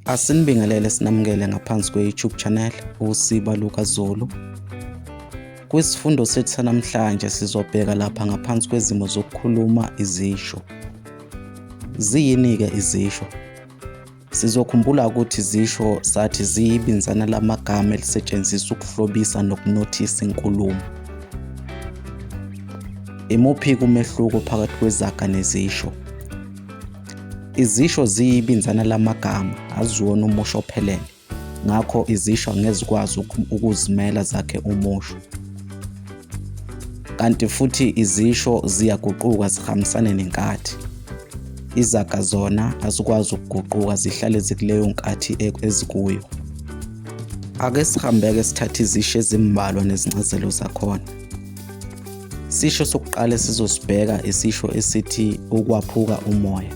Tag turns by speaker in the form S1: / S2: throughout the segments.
S1: Asinibingelele sinamukele ngaphansi kwe-YouTube channel uSiba Luka Zulu. Kwisifundo sethu sanamhlanje sizobheka lapha ngaphansi kwezimo zokukhuluma izisho. Ziyini-ke izisho? Sizokhumbula ukuthi izisho sathi ziyibinzana lamagama elisetshenziswa ukuhlobisa nokunothisa inkulumo. Imuphi-ke umehluko phakathi kwezaga nezisho? Izisho ziyibinzana lamagama, aziwona umusho ophelele. Ngakho izisho ngezikwazi ukuzimela zakhe umusho. Kanti futhi izisho ziyaguquka zihambisane nenkathi. Izaga zona azikwazi ukuguquka zihlale zikuleyo nkathi e-, ezikuyo. Ake sihambeke sithathe izisho ezimbalwa nezincazelo zakhona. Isisho sokuqala esizosibheka isisho esithi ukwaphuka umoya.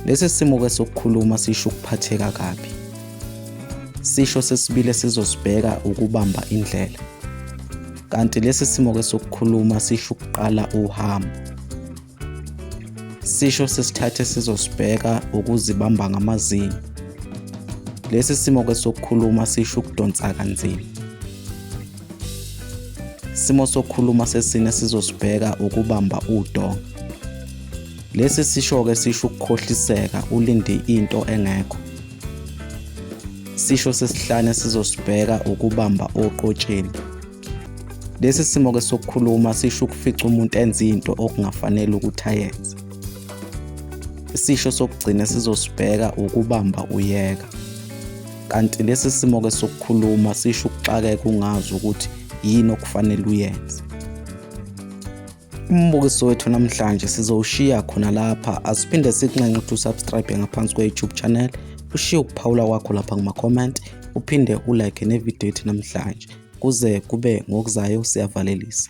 S1: Lesi simo ke sokukhuluma sisho ukuphatheka kabi. Isisho sesibili esizosibheka ukubamba indlela. Kanti lesi simo ke sokukhuluma sisho ukuqala uhambo. Sisho sesithathe sizosibheka ukuzibamba ngamazinyo. Lesi simo ke sokukhuluma sisho ukudonsa kanzima. Simo sokukhuluma sesine sizosibheka ukubamba udonga. Lesi sisho ke sisho ukukhohliseka ulinde into engekho. Sisho sesihlane sizosibheka ukubamba oqotsheni. Lesi simo ke sokukhuluma sisho ukufica umuntu enza into okungafanele ukuthi ayenze. Isisho sokugcina sizosibheka ukubamba uyeka. Kanti lesi simo ke sokukhuluma sisho ukuxakeka ungazi ukuthi yini okufanele uyenze. Umbukiso wethu namhlanje sizowushiya khona lapha asiphinde sikunxenxe ukuthi usubscribe ngaphansi kwe-youtube channel ushiye ukuphawula kwakho lapha kuma-comment uphinde ulike nevidiyo yethu namhlanje kuze kube ngokuzayo siyavalelisa